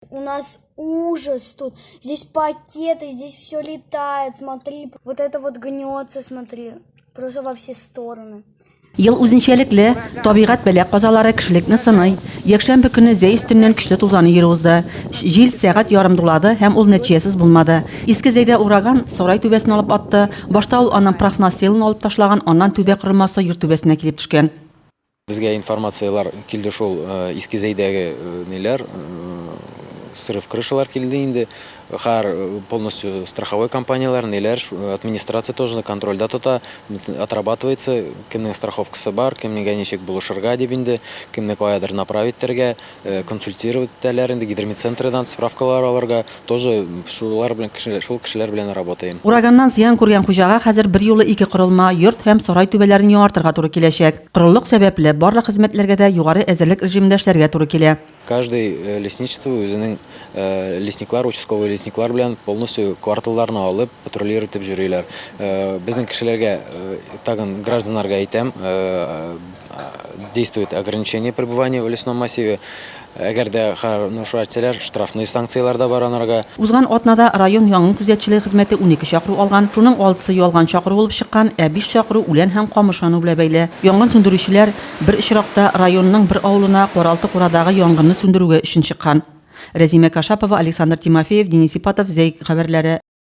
У нас ужас тут. Здесь пакеты, здесь все летает. Смотри, вот это вот гнется, смотри. Просто во все стороны. Ел үзенчәлекле табигать бәла казалары кешелекне сыный. Якшәмбе көне Зәй өстеннән көчле тузан йөри узды. Җил сәгать ярым дулады һәм ул нәтиҗәсез булмады. Иске Зәйдә ураган сарай түбәсен алып атты. Башта ул аннан профнастилын алып ташлаган, аннан түбә корылмасы йорт түбәсенә килеп төшкән. Безгә информацияләр килде шул, Иске Зәйдәге ниләр, срыв крышалар килде инде. Хәер, полностью страховой компанияләр, ниләр, администрация тоже контрольдә тота, отрабатывается, кемнең страховкасы бар, кемгә ничек булышырга дип инде, кемне каядыр направить итәргә, консультировать итәләр инде, гидромедцентредан справкалар алырга, тоже шулар белән кеше, шул кешеләр белән работаем. Ураганнан зыян күргән хуҗага хәзер берьюлы ике корылма, йорт һәм сарай түбәләрен яңартырга туры киләчәк. Корылык сәбәпле, барлык хезмәтләргә дә югары әзерлек режимында эшләргә туры килә. Каждый лесничество үзенең лесниклар, участковый лесниклар белән полностью кварталларны алып, патрулир итеп йөриләр. Безнең кешеләргә, тагын гражданнарга әйтәм, действует ограничение пребывания в лесном массиве. Әгәр дә хәрнушу әртсәләр, штрафный санкцияләр дә бар анарга. Узган атнада район янгын күзәтчелеге хезмәте унике чакыру алган. Шуның алтысы ялган чакыру булып чыккан, ә биш чакыру үлән һәм камыш яну белән бәйле. Янгын сүндерүчеләр бер очракта районның бер авылына Каралты курадагы янгынны сүндерүгә өчен чыккан. Рәзимә Кашапова, Александр Тимофеев, Денис Ипатов, Зәй хәбәрләре.